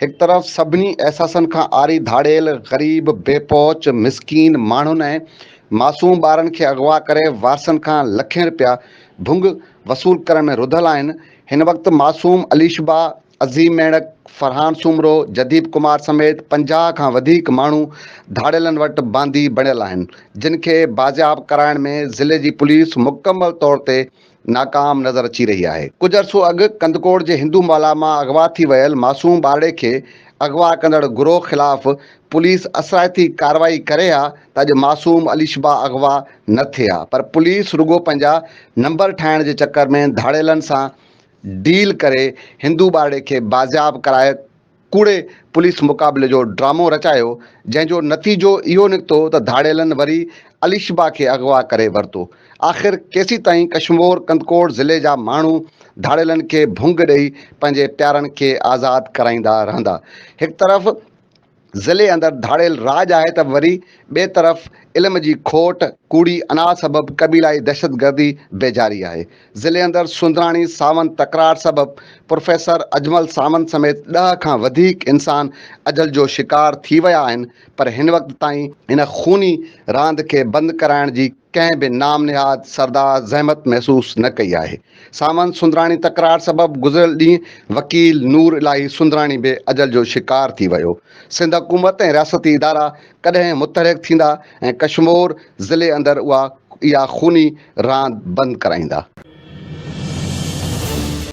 هڪ طرف سڀني احساسن کان عاري ڌاڙيل، غريب، بي پهچ، مسڪين، ماڻهن ۽ معصوم ٻارن کي اغوا ڪري وارثن کان لکين رپيا، ڀنگ، وصول ڪرڻ ۾ رڌل آهن، هن وقت معصوم اليشبا، عظيم ميڙڪ، فرحان سومرو، جديپ ڪمار سميت پنجاهه کان وڌيڪ ماڻهو ڌاڙيلن وٽ باندي بڻيل آهن، جن کي بازياب ڪرائڻ ۾ ضلعي جي پوليس مڪمل طور تي ناڪام نظر اچي رهي آهي، ڪجهه عرصو اڳ ڪنڌڪوٽ جي هندو مالا مان اغوا ٿي ويل معصوم ٻارڙي کي اغوا ڪندڙ گروهه خلاف پوليس اثرائتي ڪارروائي ڪري ها ته اڄ معصوم اليشبا اغوا نه ٿئي ها پر پوليس رڳو پنهنجا نمبر ٺاهڻ جي چڪر ۾ ڌاڙيلن سان ڊيل ڪري هندو ٻارڙي کي بازياب ڪرائي ڪوڙي پوليس مقابلي جو ڊرامو رچايو جنهن جو نتيجو اهو نڪتو ته ڌاڙيلن وري اليشبا کي اغوا ڪري ورتو. آخر ڪيسيتائين ڪشمور ڪنڌڪوٽ ضلعي جا ماڻهو ڌاڙيلن کي ڀونگ ڏئي پنهنجي پيارن کي آزاد ڪرائيندا رهندا. هڪ طرف ضلعي اندر ڌاڙيل راڄ آهي ته وري ٻئي طرف علم جي کوٽ، ڪوڙي انا سبب قبيلائي دهشتگردي بيجاري آهي. ضلعي اندر سوندراڻي ساوند تڪرار سبب پروفيسر اجمل ساوند سميت ڏهه کان وڌيڪ انسان اجل جو شڪار ٿي ويا آهن پر هن وقت تائين ان خوني راند کي بند ڪرائڻ جي ڪنهن به نام نهاد سردار زحمت محسوس نه ڪئي آهي ساوند سوندراڻي تڪرار سبب گذريل ڏينهن وڪيل نور الاهي سوندراڻي به اجل جو شڪار ٿي ويو سنڌ حڪومت ۽ رياستي ادارا ڪڏهن متحرڪ ٿيندا ۽ ڪشمور ضلعي اندر اها اها خوني راند بند ڪرائيندا.